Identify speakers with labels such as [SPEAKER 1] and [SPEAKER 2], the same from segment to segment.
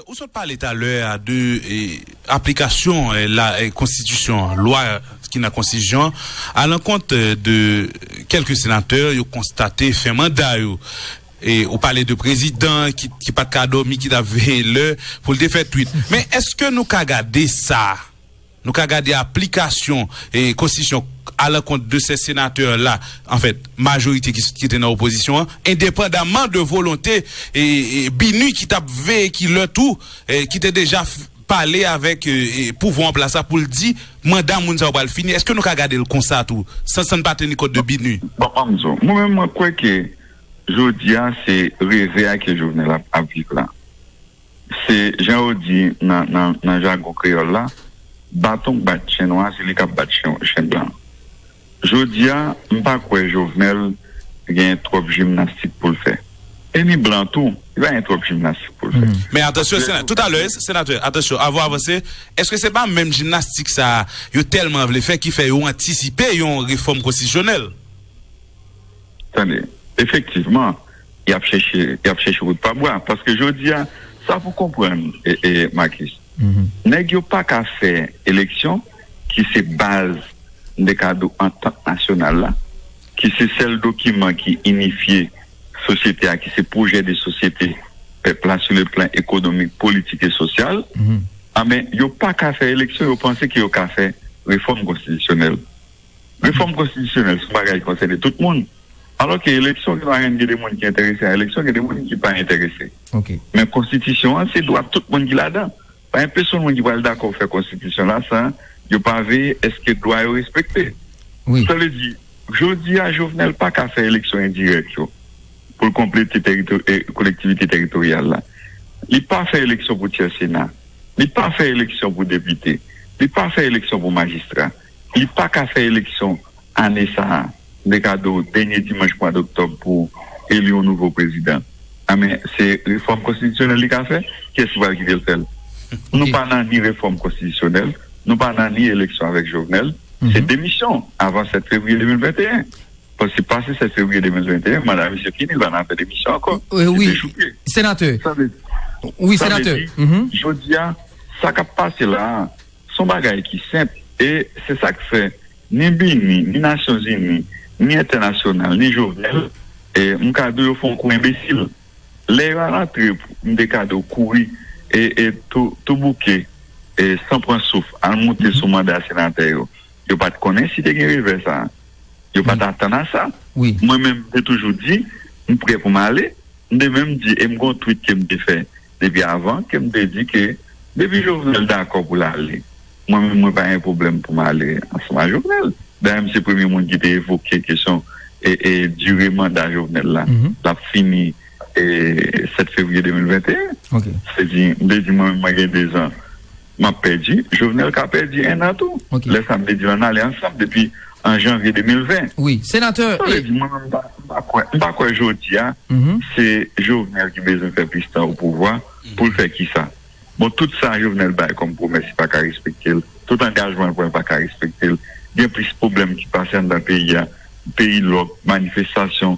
[SPEAKER 1] Ou sot pale talè a de aplikasyon la konstitisyon an, lwa ki nan konstitisyon an, alankont de kèlke senatè yo konstate fen manda yo. Ou pale de prezidan ki pat ka dòmi, ki tap veye lè pou l te fè twit. Men eske nou ka gade sa? Nou ka gade aplikasyon konstitisyon a lankont de sè senatè la, an fèt, majorite ki te nan opozisyon an, endepandaman de volonte BINUH ki t ap veye ki lè tou, ki te deja pale avèk pouvwa an plas la pou l di manda moun sa yo pral fini. Eske nou ka gade l konsa tou, san n pa teni kont de BINUH? Bon, an m di w, mwen menm
[SPEAKER 2] mwen kwè ke jodi a se reve a ke Jovenel ap viv la. Se jan yo di nan jagon kreyòl la, Baton k bat chen nwa se li k ap bat chen blan. Jodi a, m pa kwè Jovenel gen twòp jimnastik pou l fè. E ni blan tou, li pa gen twòp jimnastik pou l fè. Men atansyon senatè, tout
[SPEAKER 1] alè, senatè, atansyon, avan w avanse, èske se pa menm jimnastik sa a yo tèlman vle fè ki fè yo antisipe yon refòm konstitisyonèl?
[SPEAKER 2] Tande, efektivman, y ap chèche, y ap chèche wout pa bwa. Paske jodi a, sa pou w konprann, Makis, nèg yo pa ka fè eleksyon ki se baz, m te ka di w, antant nasyonal la, ki se sèl dokiman ki inifye sosyete a, ki se pwojè de sosyete pèp la sou le plan ekonomik, politik e sosyal. Anben, yo pa ka fè eleksyon, yo panse ke yo ka fè refòm konstitisyonèl. Refòm konstitisyonèl son bagay ki konsène tout moun, alò ke eleksyon gen ladan gen de moun ki enterese a eleksyon, gen de moun ki pa enterese. Men konstitisyon an se dwa tout moun ki ladan. Pa gen pesonn moun ki pral dakò fè konstitisyon la san yo pa veye eske dwa yo respekte. Sa vle di, jodi a Jovenel pa ka fè eleksyon endirèk yo pou l konplete kolektivite teritoryal la. Li pa fè eleksyon pou tyè sena. Li pa fè eleksyon pou depite. Li pa fè eleksyon pou majistra. Li pa ka fè eleksyon ane sa a, de kado dènye dimanch mwa doktòb pou eli yon nouvo prezidan. A men, se refòm konstitisyonèl li ka fè? Kiyès ki pral kite l fè l? Nou pa nan ni refòm konstitisyonèl, nou pa nan ni eleksyon avèk Jovenel. Se demisyon avan 7 fevriye 2021. Paske pase 7 fevriye 2021, manda misye fini, l pa nan afè demisyon ankò.
[SPEAKER 3] Se dechouke. Sa vle di, jodi a,
[SPEAKER 2] sa k ap pase la a, Se yon bagay ki senp e se sa k fè ni BINUH, ni Nasyonzini, ni entènasyonal, ni Jovenel, m ka di w yo fè yon kou enbesil. Lè yo alatrip, m te ka di w kouri e tou bouke e san pran souf al monte sou manda senatè yo. Yo pa t konnen si te gen revè sa a. Yo pa t atann a sa. Mwen menm m te
[SPEAKER 3] toujou
[SPEAKER 2] di m prè pou m ale. M te menm di e m gen yon tweet ke m te fè. Depi avan ke m te di ke depi Jovenel dakò pou l ale, mwen menm mwen pa gen pwoblèm pou m ale ansanm ak Jovenel. Dayè m se premye moun ki te evoke kesyon dire manda Jovenel la l ap fini 7 fevriye 2021. Se di m te di mwen menm mwen gen 2 zan M ap pèdi, Jovenel ka pèdi 1 an tou. Lè sa m te di l an n ale ansanm depi an janvye 2020. Wi, senatè. Sa
[SPEAKER 3] vle di mwen menm m pa m
[SPEAKER 2] pa kwè m pa kwè jodi a se Jovenel ki bezwen fè plis tan opouvwa pou l fè kisa. Bon tout sa Jovenel bay kòm pwomès li pa ka respekte l, tout angajman l pran l pa ka respekte l. Gen plis pwoblèm ki pase anndan peyi a, peyi lòk, manifestasyon,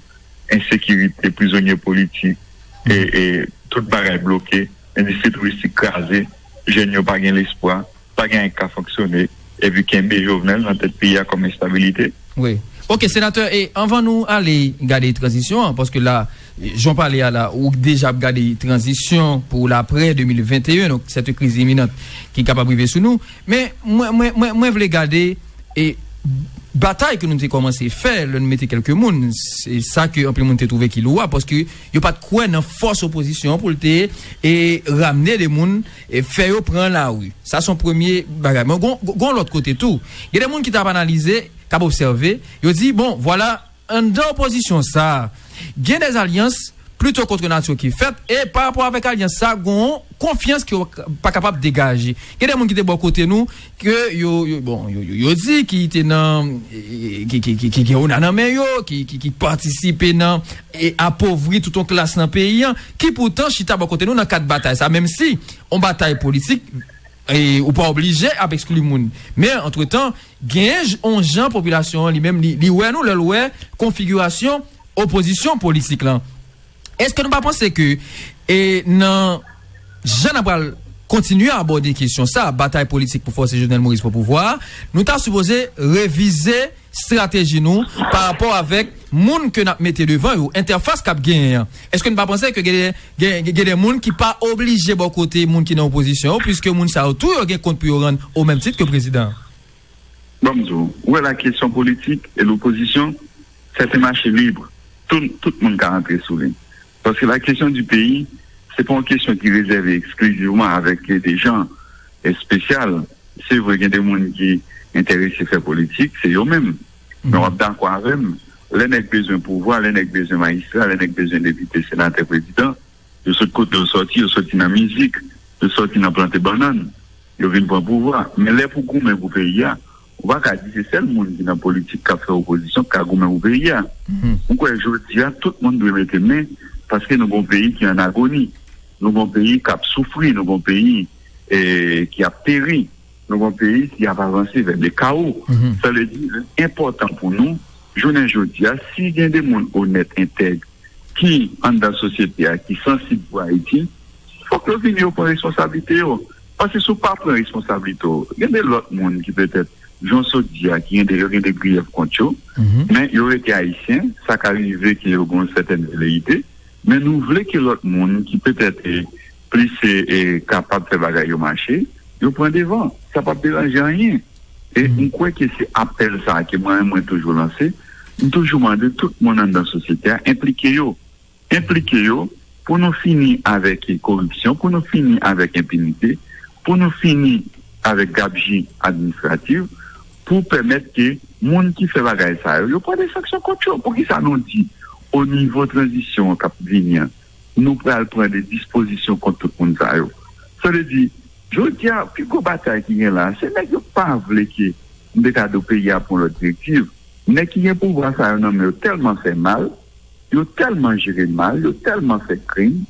[SPEAKER 2] ensekirite, prizonye politik e tout bagay bloke. Endistri touristik kraze, jèn yo pa gen lespwa, pa gen anyen ki ka fonksyone, epi kenbe Jovenel nan tèt peyi a kòm enstabilite. Wi. Ok,
[SPEAKER 3] Senatè, e anvan nou ale gade tranzisyon an, paske la, jan w pale a la, ou deja ap gade tranzisyon pou laprè 2021, donk sèt yon kriz iminant ki kapab rive sou nou. Men, mwen, mwen, mwen, mwen vle gade e batay ke nou te kòmanse fè lè nou mete kèlke moun, se sa ke anpil moun te twouve ki louwab, paske Yo pat kwè nan fòs opozisyon pou l te e ramne de moun e fè yo pran lari. Sa son premye bagay. Men gon gon lòt kote tou. Gen de moun ki tap analize, kap obsève, yo di bon vwala anndan opozisyon sa gen de alyans plito kontre natyo ki fèt e pa rapò avèk alyans sa gon konfyans ke yo pa kapab degaje. Gen de moun ki te bò kote nou. ke yo bon yo di ki te nan ki gen ona nan men yo ki patisipe nan e apovri tout yon klas nan peyi an ki poutan chita bò kote nou nan kad batay sa menm si yon batay politik e ou pa oblije ap ekskli moun men antretan gen yon jan popilasyon an li menm li wè nou lè l wè konfigirasyon opozisyon politik lan. Eske nou pa panse ke e nan jan nan pral kontinye abòde kesyon sa, batay politik pou fòse Jovenel Moïse pran pouvwa a, nou ta sipoze revize strateji nou pa rapò avèk moun ke nap mete devan yo, entèfas kap genyen an. Eske nou pa panse ke gen gen gen de moun ki pa oblije bò kote moun ki nan opozisyon yo, puiske moun sa yo tou yo gen kont pou yo rann o menm tit ke prezidan an? Banm
[SPEAKER 2] di w, ou wè la kesyon politik e lopozisyon Sè se mache libre tou tout moun ka antre sou li paske la kesyon di peyi se pa yon kesyon ki rezève eksklizivman avèk de jan espesyal se vre gen de moun ki entèrese fè politik se yo menm men wap dakò avèm lè nèg bezwen pouvwa lè nèg bezwen majistra lè nèg bezwen depite senatè prezidan yo sòt kote yo sòti yo sòti nan mizik yo sòti nan plante bannann yo vin pran pouvwa men lè pou goumen pou peyi a Ou pa ka di se sèl moun ki nan politik k ap fè opozisyon k ka goumen pou peyi a. M kwè jodi a tout moun dwe mete men paske nou gon peyi ki an agoni, nou gon peyi k ap soufri, nou gon peyi ki ap peri, nou gon peyi ki ap avanse vè le kawo. Sa vle di li enpòtan pou nou jounen jodi a si gen de moun onèt, entèg ki anndan sosyete a ki sansib pou Ayiti fòk yo vini yo pran responsablite yo. Paske si w pa pran responsablite w, gen de lòt moun ki petèt, jan w sot di a, ki gen de, yo gen de griyèf kont yo, men yo rete Ayisyen, sa ka rive ke yo gen yon sètèn veleyite, men nou vle ke lòt moun ki petèt plis kapab fè bagay yo mache, yo pran devan. Sa p ap deranje anyen. E m kwè ke se apèl sa a ke mwen menm mwen toujou lanse, m toujou mande tout moun anndan sosyete a enplike yo. Enplike yo, pou nou fini avèk koripsyon, pou nou fini avèk enpinite, pou nou fini avèk gabji administrativ, pou pèmèt ke moun ki fè bagay sa yo, yo pran de sanksyon kont yo. Pou ki sa nou di, o nivo tranzisyon an kap vini an, nou pral pran de dispozisyon kont tout moun sa yo? Sa vle di, jodi a, pi gwo batay ki gen la, se nèg yo pa vle ke Mbekado peyi a pran lòt direktiv. Nèg ki gen pouvwa sa yo nan men yo tèlman fè mal, Yo tèlman jere mal, yo tèlman fè krim,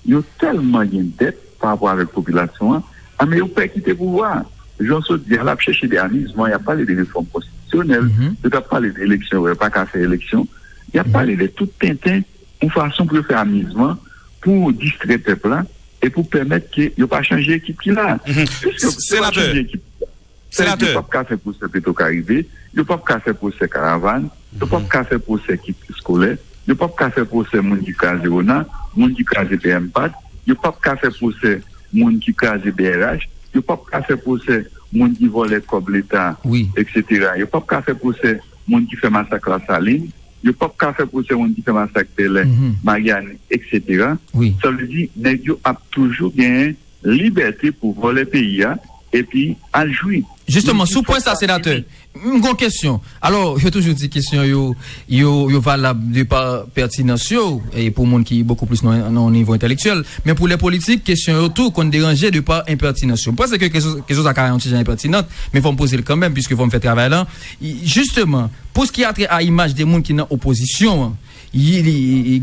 [SPEAKER 2] yo tèlman gen dèt pa rapò avèk popilasyon an, an men yo pè kite pouvwa a. Jan Sot di a la ap chèche de amizman, y ap pale de refòm konstitisyonèl, yo t ap pale de eleksyon yo pa ka fè eleksyon, y ap pale de tout tenten yon fason pou yo fè amizman, pou distrè pèp la e pou pèmèt ke yo pa chanje ekip ki la a. Piske yo pa chanje
[SPEAKER 1] ekip ki la.
[SPEAKER 2] Senatè. Yo pap ka fè pwosè Petro Karibe, yo pap ka fè pwosè Karavann, yo pap ka fè pwosè Kit Eskolè, yo pap ka fè pwosè moun ki kraze Ona, moun ki kraze BMPAD, yo pap ka fè pwosè moun ki kraze brh, yo pap ka fè pwosè moun ki vòlè kòb leta etc. Yo pap ka fè pwosè moun ki fè masak Lasalin, yo pap ka fè pwosè moun ki fè masak Bèlè, Maryani etc. Sa vle di nèg yo ap toujou genyen. Libète pou vòlè peyi a epi al jwi. Jisteman, sou pwen sa
[SPEAKER 3] senatè, m gon kesyon. Alò, yo toujou di kesyon yo, yo valab de pa pètinans yo, e pou moun ki bokou plis nan yon nivo entèlektyèl. Men pou lè politik, kesyon yo tou konn deranje de pa enpètinans yo. M panse ke kesyon sa ka yon ti jan enpètinant, men fò m poze l kanmèm, piske fò m fè travay lan. Jisteman, pou s ki a trè a imaj de moun ki nan opozisyon an,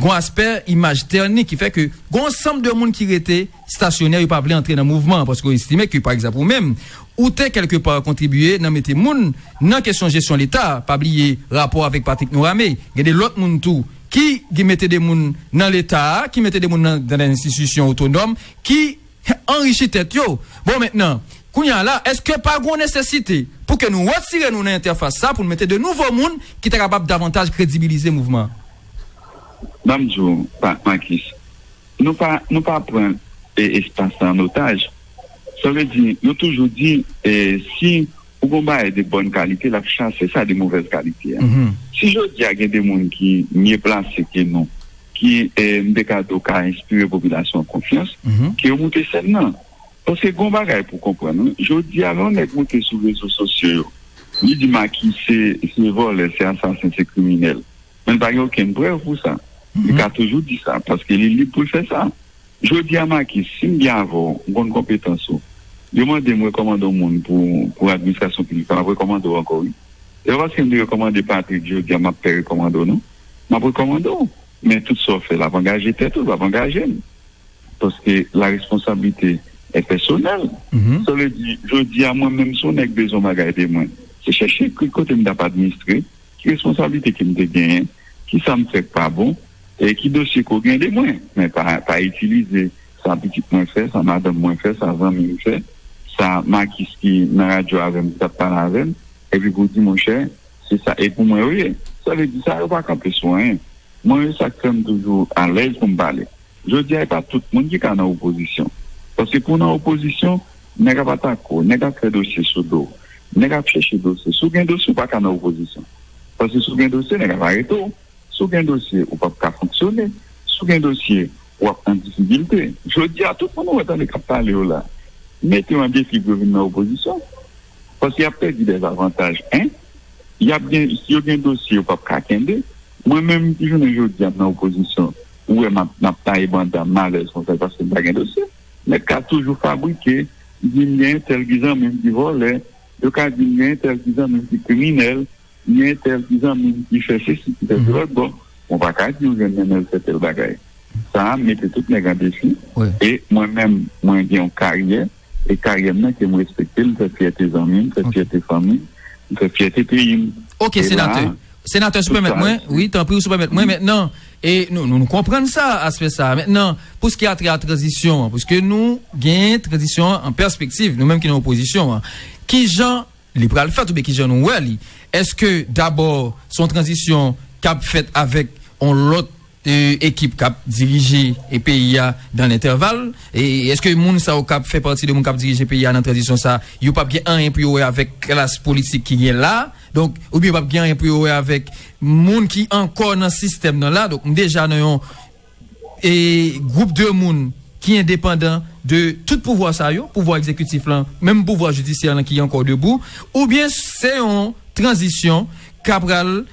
[SPEAKER 3] gon aspè imaj tèni ki fè ke gon ansanm de moun ki rete, stasyonè yo pa vle antre nan mouvman an paske yo estime ke, pa egzanp ou menm, ou te kèlke pa kontribye nan mete moun nan kesyon jesyon leta a, pa bliye rapò avèk Patrick Norame, gen de lòt moun tou ki gen mete de moun nan leta a, ki mete de moun nan gran enstitisyon otonòm ki anrichi tèt yo. Bon mentnan, kounye a la, èske pa gon nesesite pou ke nou retire nou nan entèfas sa pou nou mete de nouvo moun ki ta kapab davantaj kredibilize mouvman an?
[SPEAKER 2] Banm di w, Marcus. Nou pa nou pa pran espas la an otaj. Sa vle di, yo toujou di si ou gen yon bagay de bòn kalite, l ap chase sa de movèz kalite a. Si jodi a gen de moun ki mye plase ke nou, ki m te ka di w ka enspire popilasyon an konfyans, ke yo moute sèn nan. Paske gen yon bagay pou w konprann wi, jodi a lè yon nèg moute sou rezo sosyo yo, li di Maki se vòlè, se asasen, se kriminèl. Men pa gen okenn prèv pou sa. Li ka toujou di sa, paske li lib pou l fè sa. Jodi a Makis, si m byen avè w, m konn konpetans ou. Yo mande m rekòmande w moun pou administrasyon piblik la, m ap rekòmande w ankò wi. Se pa paske m te rekòmande Patrick jodi a m ap pè rekòmande w non. M ap rekòmande w, men tout sa w fè la ap angaje tèt ou, l pa ap angaje m. Paske la responsablite è pèsonèl. Sa vle di, jodi a mwen menm si yon nèg bezwen yon bagay de mwen, se chèche ki kote m t ap administre. Ki responsablite ke m te genyen? Ki sa m fè k pa bon? E ki dosye ke w gen de mwen? Men pa itilize sa pitit mwen fè, sa madanm mwen fè, sa zanmi m fè, sa Makis ki nan radyo avè m, ki t ap pale avè m, epi pou w di monchè, se sa e pou mwen yo ye. Sa vle di sa yo pa kanpe sou anyen. Mwen, sa k fè m toujou alèz pou m pale. Jodi a e pa tout moun ki ka nan opozisyon. Paske pou w nan opozisyon, nèg ap atake w, nèg ap fè dosye sou do w, nèg ap chèche dosye. Si w gen dosye, ou pa ka nan opozisyon. Paske si w gen dosye, nèg ap arete w. Si w gen dosye, ou pap ka fonksyone. Si w gen dosye, w ap an difikilte. Jodi a, tout moun ou wè tande k ap pale yo la, mete yo an defi pou yo vin nan opozisyon. Paske y ap pèdi dèzavantaj 1. yap gen si yo gen dosye yo pap ka kenbe mwen menm ki jounen jodia m nan opozisyon ou wè map map taye banda m alèz konsa paske m pa gen dosye nèg ka toujou fabrike di m gen entèl ki zanmi m ki vòlè yo ka di m gen entèl ki zanmi m ki kriminèl gen entèl ki zanmi m ki fè sesi ki fè sela bon mwen pa ka di ou jwenn nan men l fè tèl bagay sa mete tout nèg an defi e mwen menm mwen gen yon karyè. E karyè m nan ke m respekte, m fè fyète zanmi, m fè fyète fanmi m, m fè fyète peyi m. Ok senatè,
[SPEAKER 3] senatè sou pèmèt mwen, wi tanpri ou sou pèmèt mwen mentnan, e nou nou konprann sa aspè sa, mentnan pou ske atre a tranzisyon an, pwiske nou gen tranzisyon an an pèspektiv, nou menm ki nan opozisyon an, kijan li pral fèt oubyen kijan nou wè li? Eske dabò son tranzisyon kab fèt avèk on lòt. ekip kap dirije peyi a dan lentèval e eske moun sa yo kap fè pati de moun kap dirije peyi a nan tranzisyon sa yo pap gen anyen pou yo wè avèk klas politik ki gen la donk ou byen yo pap gen anyen pou yo wè avèk moun ki ankò nan sistèm nan la donk m deja nan yon e gwoup de moun ki endepandan de tout pouvwa sa yo pouvwa ekzekitif lan menm pouvwa jidisyè lan ki ankò debou ou byen se yon tranzisyon kap pral.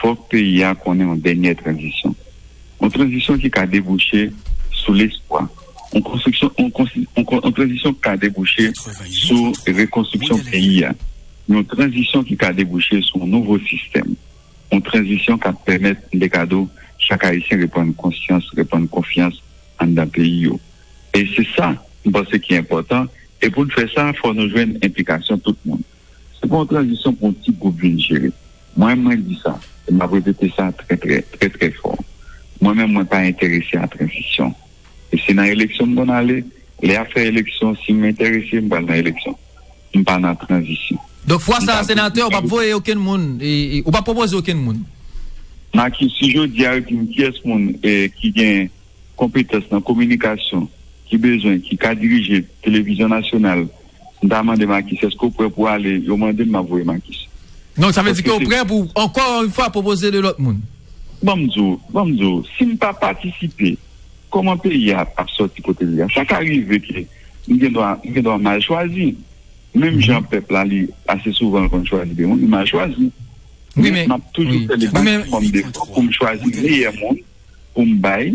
[SPEAKER 2] fòk peyi a konnen yon dènyè tranzisyon. Yon tranzisyon ki ka debouche sou lespwa. Yon tranzisyon ki ka debouche sou rekonstriksyon peyi a. Yon tranzisyon ki ka debouche sou yon nouvo sistèm. Yon tranzisyon k ap pèmèt Mbekado chak Ayisyen reprann konsyans, reprann konfyans anndan peyi yo. E se sa m panse ki enpòtan. E pou n fè sa, fòk nou jwenn enplikasyon tout moun. Se pa yon tranzisyon pou yon ti gwoup vin jere. Mwen, mwen di sa, e m ap repete sa trè trè, trè trè fò, mwen menm mwen pa enterese a tranzisyon. E se nan eleksyon m konn ale, lè y ap fè eleksyon, si m enterese, m pral nan eleksyon. M pa nan tranzisyon. Donk fwa sa a
[SPEAKER 3] senatè, ou p ap voye okenn moun, ou p ap pwopoze okenn moun? Maki,
[SPEAKER 2] si jodi a yo di m kiyès moun ki gen konpetans nan kominikasyon, ki bezwen, ki ka dirije televizyon nasyonal, M ta mande Makis, eske ou prè pou ale? Yo mande m, m ap voye Makis. Donk sa vle di ke
[SPEAKER 3] ou prè pou, ankò yon fwa, pwopoze 2 lòt moun? Ban m di w,
[SPEAKER 2] ban m di w, si m pa patisipe, kòman peyi a ap sòti kote li a? Sa ka rive ke m gen dwa, m gen dwa mal chwazi. Menm jan pèp la li, ase souvan l konn chwazi de moun, li mal chwazi. Men, m ap
[SPEAKER 3] toujou fè le
[SPEAKER 2] maksimòm de efò pou m chwazi meyè moun pou m bay.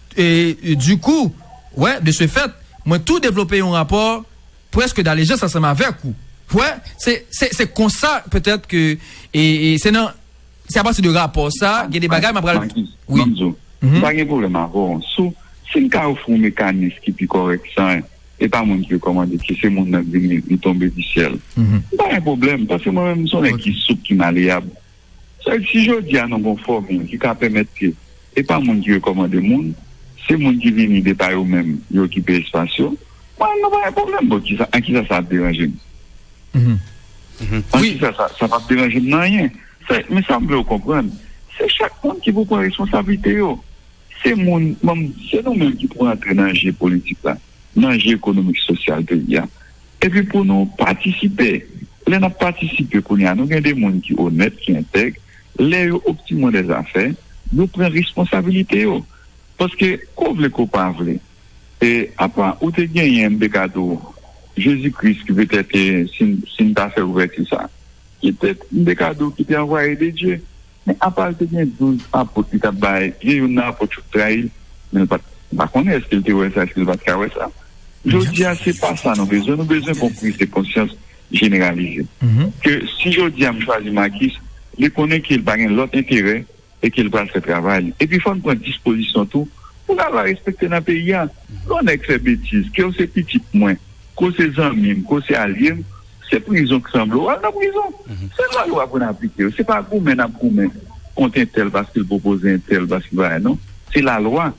[SPEAKER 3] E du coup, wè, de ce fait, mwen tou devlope yon rapò preske d'alejans ansanm avèk ou. Wè, se, se, se konsa, petèt ke, e, e, se nan, se a pati de rapò sa, gen de bagay mwen pral, Maki, wi. Map di w, m
[SPEAKER 2] pa gen pwoblèm avè w sou, si m ka ofri w mekanis ki pi kòrèk san, e pa moun ki rekòmande, ki se moun nan k vin li, li tonbe di syèl. M pa gen pwoblèm, paske mwen menm m s on nèg ki soup, ki maleyab. Sèke si jodi a nou gon fòmil ki ka pèmèt ke e pa moun ki rekòmande moun, se moun ki vini de pa yo menm yo okipe espas yo, mwen nou pa gen pwoblèm bon ki sa, an ki sa sa ap deranje m? An ki sa sa, sa pap deranje m nan anyen. Sè, men sa m vle ou konprann, se chak moun ki pou pran responsablite yo. Se moun, m ban m di, se nou menm ki pou rantre nan je politik la. nan je ekonomik sosyal peyi a epi pou nou patisipe lè n ap patisipe kounye a nou gen de moun ki onèt ki entèg lè yo optimon de zafè yo pran responsabilite yo paske ke w vle ke w pa vle e apa ou te genyen m te ka di w jezi kris ki petèt si n ta fè ouvèti sa ki te m te ka di w ki te anvwaye de dye. Men apa l te gen douz apot li t ap bay, gen youn nan apot yo ki trayi l, men l pa t pa konnen èske l te wè sa, èske l pa t ka wè sa. Jodi a, se pa sa nou bezwen, nou bezwen gon priz de konsyans jeneralize. Ke si jodi a m chwazi Makis, li konnen ke l pa gen lòt enterè e ke l pral fè travay li. Epi fò n pran dispozisyon tou pou lalwa respekte nan peyi a. Lè yon nèg fè betiz, ke w se pitit mwen, ke w se zanmi m, ke w se alye m, Se prizon k sanble w, al nan prizon. Se lwa yo aprann aplike yo. Se pa goumen n ap goumen kont entèl paske l pwopoze entèl paske bagay non. Se lalwa.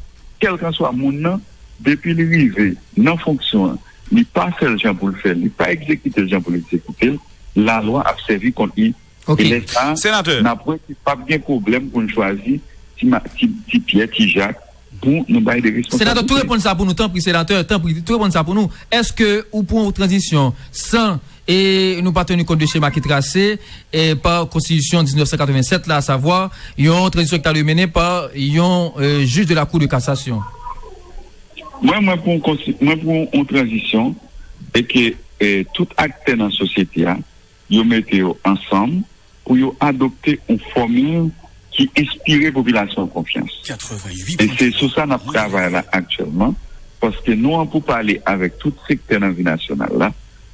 [SPEAKER 2] Kèlkanswa moun nan, depi li rive nan fonksyon an, li pa fè l jan pou l fè l, li pa egzekite l jan pou l egzekite l, lalwa ap sèvi kont li. E lè sa a,
[SPEAKER 3] n
[SPEAKER 2] ap wè ke pap gen pwoblèm pou n chwazi ti Pyè, ti Jak, Bon nou bay de responsabilite. Senatè tou reponn sa pou nou
[SPEAKER 3] tanpri senatè tanpri tou reponn sa pou nou eske ou pou yon tranzisyon san e nou pa teni kont de chema ki trase e pa konstitisyon 1987 la asavwa yon tranzisyon ki ta dwe mennen pa yon jij de la kou de kasasyon.
[SPEAKER 2] Mwen mwen pou yon konsti mwen pou yon tranzisyon e ke tout aktè nan sosyete a Yo mete yo ansanm pou yo adopte yon fòmil ki enspire popilasyon an konfyans. E se sou sa n ap travay la aktyèlman, paske nou an pou pale avèk tout sektè nan vi nasyonal la,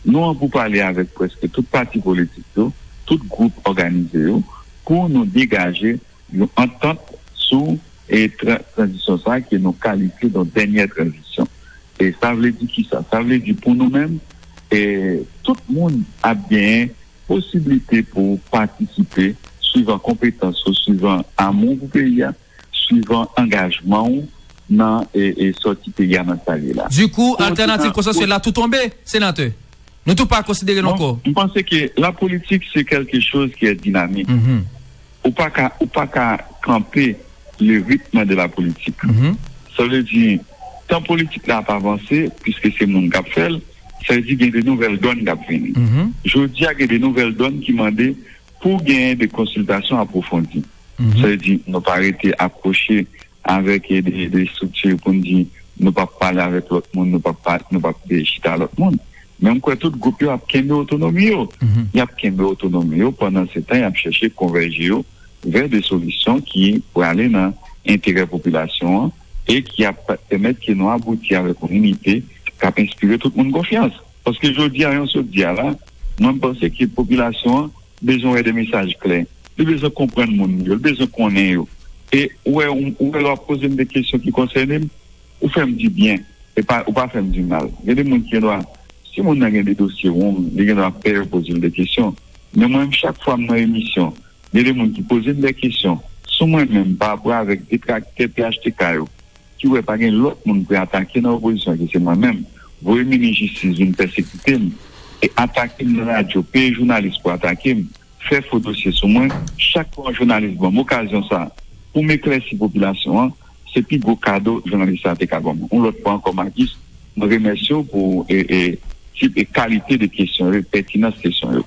[SPEAKER 2] nou an pou pale avèk prèske tout pati politik yo, tout gwoup òganize yo, pou nou degaje yon antant sou tranzisyon sa a ke nou kalifye don dènyè tranzisyon. E sa vle di ki sa? Sa vle di pou nou menm, tout moun ap genyen posiblite pou patisipe swivan konpetans ou, swivan amou pou peyi a, swivan angajman ou nan sòti peyi a nan sa li ye la. Du coup, altènativ
[SPEAKER 3] konsansyèl la tou tonbe, Senatè? Nou tou pa konsidere l ankò? M panse ke
[SPEAKER 2] lapolitik se kèlke choz ki è dinamik. Ou pa ka ou pa ka kanpe le rythme de la politique. Sa vle di, tan politik la ap avanse, piske se moun k ap fè l, sa vle di gen de nouvèl dòn k ap vini. Jodi a gen de nouvèl dòn ki mande pou genyen de konsiltasyon apwofondi. Sa vle di nou pa rete akwoche Avèk de estrikti pou n di nou pap pale avèk lòt moun, nou pap pa, nou pap chita ak lòt moun. Men m kwè tout gwoup yo ap kenbe otonomi yo. Y ap kenbe otonomi yo pandan se tan y ap chèche konvèje yo vè de solisyon ki prale nan enterè popilasyon an e ki ap pèmèt ke nou abouti avèk yon inite k ap enspire tout moun konfyans. Paske jodi a jan w sot di a la, mwen m panse ke popilasyon an bezwen wè de mesaj klè, li bezwen konprann moun li yo, li bezwen konnen yo. E ou wè, ou wè lè w ap poze m de kesyon ki konsène m, ou fè m di byen, e pa, ou pa fè m di mal. Gen de moun ki gen dwa, si moun nan gen de dosye wong, li gen dwa pè yo poze l de kesyon. Men mwen menm, chak fwa m nan emisyon, gen de moun ki poze m de kesyon sou mwen menm, parapò avèk detraktè phtk yo, ki wè pa gen lòt moun pou y atake nan opozisyon ke se mwen menm, voye minis jistis vin pèsekite m e atake m nan radyo, peye jounalis pou atake m, fè fo dosye sou mwen, chak fwa yon jounalis ban m okazyon sa a pou m eklèsi popilasyon an, se pi gwo kado jounalis sa a te ka ban mwen. Yon lòt fwa ankò Makis, mwen remèsye w pou tip e kalite de kesyon yo e pètinans kesyon yo.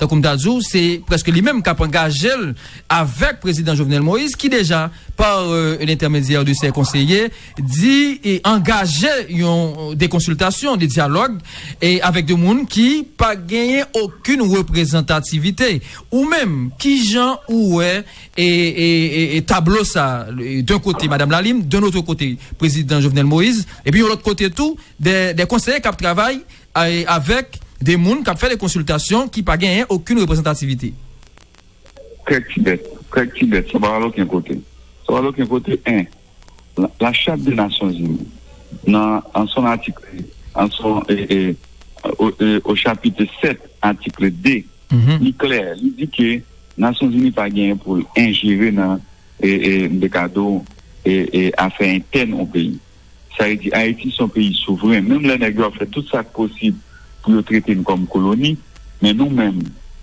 [SPEAKER 3] Tankou m ta di w, se prèske li menm k ap angaje l avèk Prezidan Jovenel Moïse ki deja, par l'entèmedyè de sè konseye, di angaje yon de konsiltasyon, de dyalòg avèk de moun ki pa genyen okin reprezantativite. Ou menm, ki jan ou wè tablo sa, d'un kote Madam Lalime, d'un otre kote Prezidan Jovenel Moïse, epi yon lòt kote tou, de konseye k ap travay, Avèk de moun k ap fè de konsiltasyon ki pa genyen okin reprezantativite.
[SPEAKER 2] Krèk ti bèt, krèk ti bèt, sa pa al okin kote. Sa pa al okin kote 1. La Charte des Nations Unies, nan an son atikle, an son e, o chapitre 7, atikle 2, li klè, li di ke Nasyon Zini pa genyen pou l enjere nan, e, m te ka di w, e, e afè entèn yon peyi. Sa vle di Ayiti se yon peyi souvren. Menm lè nèg yo ap fè tout sa k posib pou yo trete n kòm koloni, men nou menm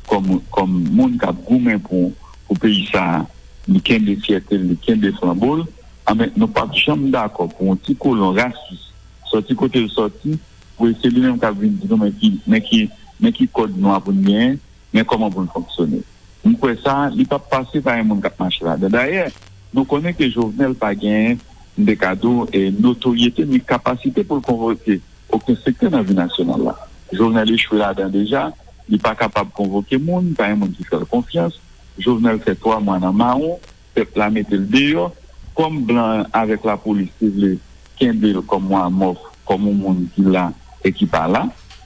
[SPEAKER 2] kòm moun k ap goumen pou peyi sa a, li kenbe fyète l, li kenbe flanbo l, anben nou p ap janm dakò pou yon ti kolon rasis sòti kote l sòti pou se li menm k ap vin di nou men ki kòd nwa pou n genyen, men kòman pou l fonksyone. M kwè sa li pap pase pa yon moun k ap mache ladan. Dayè, nou konnen ke Jovenel pa gen, m te ka di w, notoryete ni kapasite pou l konvoke oken sektè nan vi nasyonal la. Jovenel echwe ladan deja. Li pa kapab konvoke moun, pa yon moun ki fè l konfyans. Jovenel fè 3 mwa nan mawon, pèp la mete l deyò. Kòm blan avèk lapolis te vle kenbe l kòm yon amòf, kòm yon moun ki la e ki pa la,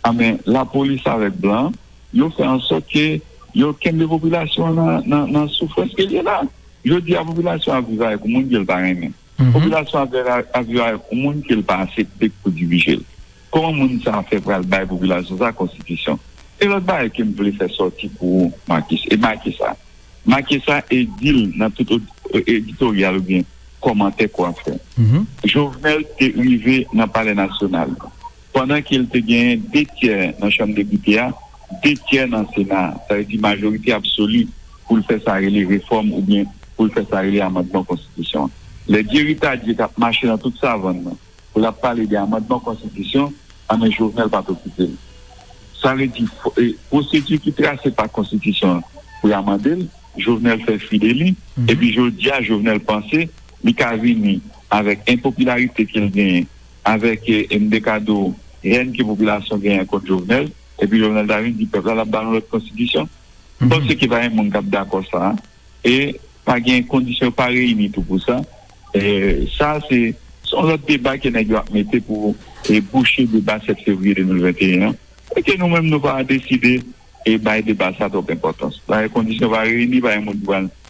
[SPEAKER 2] anben lapolis avèk blan Yo fè ansòt ke yo kenbe popilasyon an nan nan soufrans ke l ye la. Jodi a popilasyon ap viv avèk yon moun ke l pa renmen. Popilasyon ap viv ap viv avèk yon moun ke l pa asepte pou dirije l. Kòman moun sa a fè pral bay popilasyon sa a konstitisyon? Gen lòt bagay ke m vle fè sòti pou ou Marcus e make sa. Make sa e di l nan tout editoryal oubyen kòmantè ke w ap fè. Jovenel te rive nan palè nasyonal. Pandan ke l te genyen de tyè nan Chanm Depite a, de tyè nan Sena a, sa vle di majorite absoli pou l fè sa rele refòm oubyen pou l fè sa rele amandman konstitisyon an. Lè Dyeri Tadye t ap mache nan tout savann nan pou l ap pale de amandman konstitisyon an men Jovenel pa t okipe l. Sa vle di pwosedi ki trase pa konstitisyon an pou y amande l, Jovenel fè fi de li epi jodi a Jovenel panse li ka vini avèk enpopilarite ke l genyen avèk mdekado hèn ke popilasyon genyen kont Jovenel epi Jovenel ta vin di pèp la lap ba nou lòt konstitisyon m panse ke pa gen moun kap dakò sa e pa gen kondisyon yo pa reyini tou pou sa sa se yon lòt deba ke nèg yo ap mete pou bouche deba 7 fevriye 2021 an e ke nou menm nou pa deside bay deba sa twòp enpòtans pa gen kondisyon yo pa reyini pa gen moun ki pral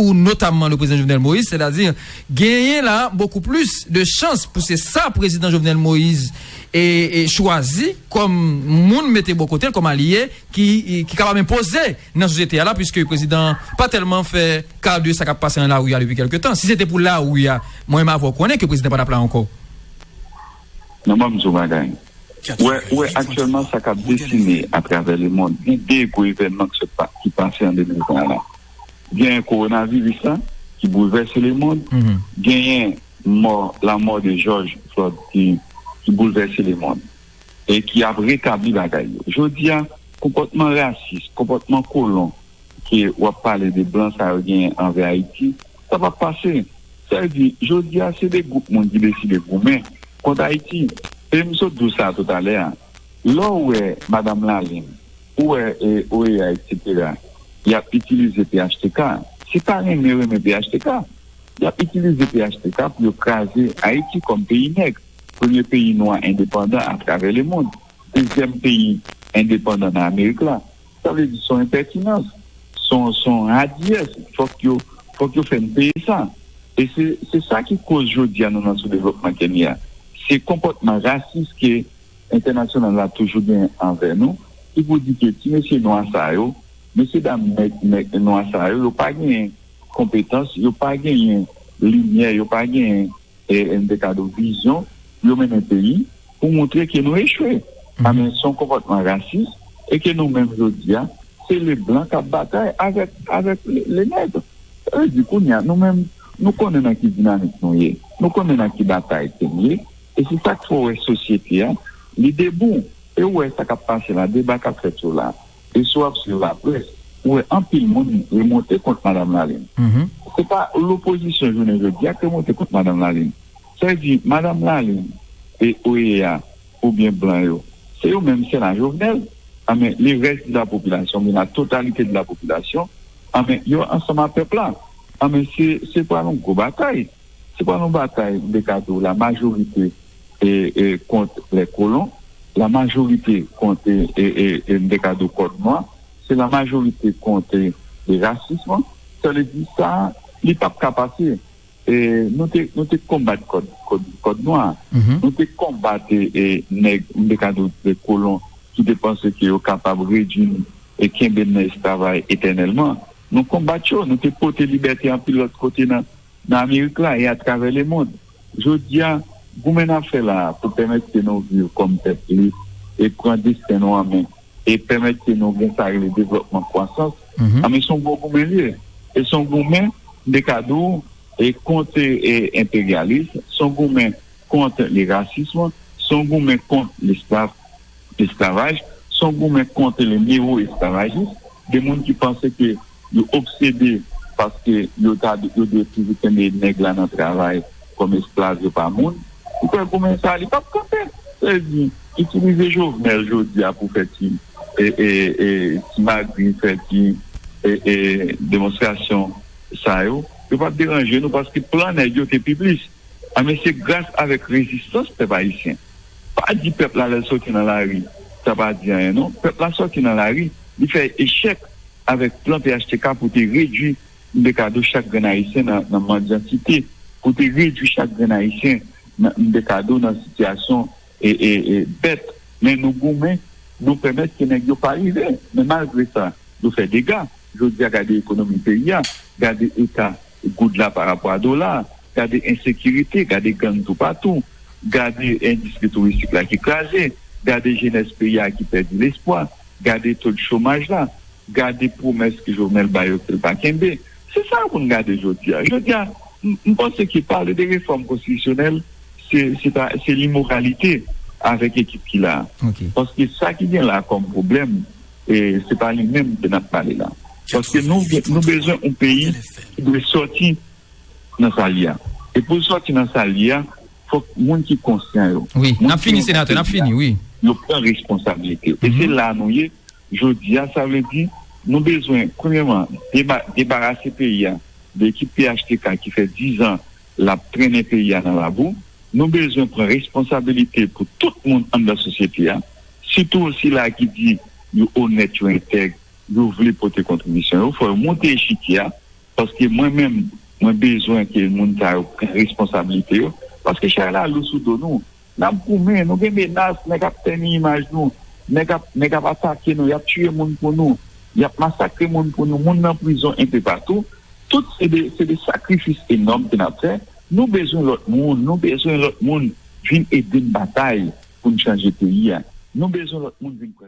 [SPEAKER 3] ou notamman le prezidan Jovenel Moïse, sètadi genyen la bokou plis de chans pou se sa prezidan Jovenel Moïse e chwazi kòm moun mete bò kote l kòm alye ki kapab enpoze nan sosyete a la puiske prezidan pa tèlman fè ka de sa k ap pase nan lari a depi kèlke tan. Si se te pou lari a, mwen menm avè w konnen ke prezidan pa t ap la ankò.
[SPEAKER 2] Non ban m di w yon bagay. Ou wè aktyèlman sa k ap desine atravè lemond, gen de gwo evènman ki pase an 2020 la. genyen kowonaviris la ki boulvèse lemond, genyen mò lanmò de Jòj Flòd ki boulvèse lemond e ki ap retabli bagay yo. Jodi a, konpòtman rasis, konpòtman kolon ke w ap pale de blan sa yo genyen anvè Ayiti, sa p ap pase. Sa vle di, jodi a se de gwoup moun ki deside goumen kont Ayiti. E m sot di w sa toutalè a. Lè w wè Madam Lalin, ou wè OEA etc. Y ap itilize phtk. Se pa renmen renmen phtk. Y ap itilize phtk pou yo kraze Ayiti kòm peyi nèg. Premye peyi nwa endepandan atravè lemond. Dezyèm peyi endepandan nan Amerik la. Sa vle di son enpètinans, son radiyès, fòk yo fòk yo fè n peye sa. E se sa ki koz jodi a nou nan soudevlopman ke n ye a. Se konpòtman rasis ke entènasyonal la toujou gen anvè nou ki pou di ke ti mesye nwa sa yo, mesye dam nèg nwa sa yo, yo pa genyen konpetans, yo pa genyen limyè, yo pa genyen. E n te ka do vizyon pou yo mennen peyi pou montre ke nou echwe. A men son konpòtman rasis e ke nou menm jodi a se le blan k ap batay avèk le nègre. Sa vle di kounye a nou menm nou konnen nan ki dinamik nou ye, nou konnen nan ki batay ke n ye e se sa k fè w wè sosyete a li debou e ou wè sa k ap pase la, deba k ap fèt yo la. E si w ap swiv laprès, ou wè anpil moun remonte kont Madam Lalin. Se pa lopozisyon jounen jodi a k remonte kont Madam Lalin. Sa vle di, Madam Lalin e OEA oubyen blan yo, se yo menm sèl a Jovenel. Anben, le rès de la popilasyon oubyen la totalite de la popilasyon, anben yo ansanm a pèp la. Anben, se pral yon gwo batay. Se pa yon batay mte ka di w la majorite e kont lè kolon, la majorite kont e mte ka di w kòd nwa, se la majorite kont e rasism, sa vle di sa li pap ka pase. E nou te nou te konbat kòd kòd nwa, nou te konbat e nèg mte ka di w kolon ki te panse ke yo kapab redui n e kenbe n nan esklavay etènèlman. Nou konbat yo, nou te pote libète anpil lòt kote nan. nan Amerik la e atravè lemond. Jodi a, goumen n ap fè la a pou pèmèt ke nou viv kòm pèp lib e pran desten nou an men e pèmèt ke nou gen sa rele devlòpman, kwasans, anben se yon gwo goumen li ye. E se yon goumen, m te ka di w, e kont enperyalis, se yon goumen kont le rasism, se yon goumen kont lesklav, esklavaj, se yon goumen kont le newoesklavajis, de moun ki panse ke. Yo obsede paske yo ta yo dwe toujou kenbe nèg la nan travay kòm esklav yo pa moun. Ou kwè goumen sa li pap kanpe? Sa vle di itilize Jovenel jodi a pou fè ti ti magouy, fè ti demonstrasyon sa yo, yo pap deranje nou paske plan nèg yo te pi plis. A men se gras avèk rezistans pèp ayisyen. Pa di pèp la lè l sòti nan lari sa pa di anyen non. Pèp la sòti nan lari li fè echèk. avèk plan phtk pou te redui mbekado chak grenn ayisyen nan mandyantite, pou te redui chak grenn ayisyen nan mbekado nan sitiyasyon bèt. Men nou goumen, nou pèmèt ke nèg yo pa rive. Men malgre sa, yo fè dega. Jodi a gade ekonomi peyi a, gade eta Goud la pa rapò a dola, gade ensekirite, gade gang toupatou, gade endistri touristik la ki kraze, gade jenès peyi a ki pèdi lespwa, gade tod chomaj la, gade pwomès ke Jovenel bay yo ke l pa kenbe. Se sa pou n gade jodi a. Jodi a, m panse ke pale de refòm konstitisyonèl se limoralite avèk ekip ki la. Paske sa ki gen la kòm pwoblèm. E se pa li menm ke nap pale la. Paske nou bezwen yon peyi ki dwe soti nan sa li a. E pou l soti nan sa li a, fòk moun ki konsyan yo. Wi, nap fini senatè,
[SPEAKER 3] nap fini wi. Yo pran
[SPEAKER 2] responsabilite. E se la nou ye jodi a. Sa vle di nou bezwen premyeman debarase peyi a de ekip phtk ki fè 10 an. Lap trennen peyi a nan labou. Nou bezwen pran responsabilite pou tout moun anndan sosyete a, sitou sila a ki di yo onèt, yo entèg, yo vle pote kontribisyon yo. Fò yo monte echikye a, paske mwen menm, mwen bezwen ke moun sa yo pran responsabilite yo, paske chay la lou sou do nou. Nap goumen, nou gen menas, nèg ap tèni imaj nou, nèg ap nèg ap atake nou, yap tiye moun pou nou, yap masakre moun pou nou, moun nan prizon enpe patou, tout se de se de sakrifis enòm ke nap fè, nou bezwen lòt moun, nou bezwen lòt moun vin ede n batay pou n chanje peyi a, nou bezwen lòt moun vin.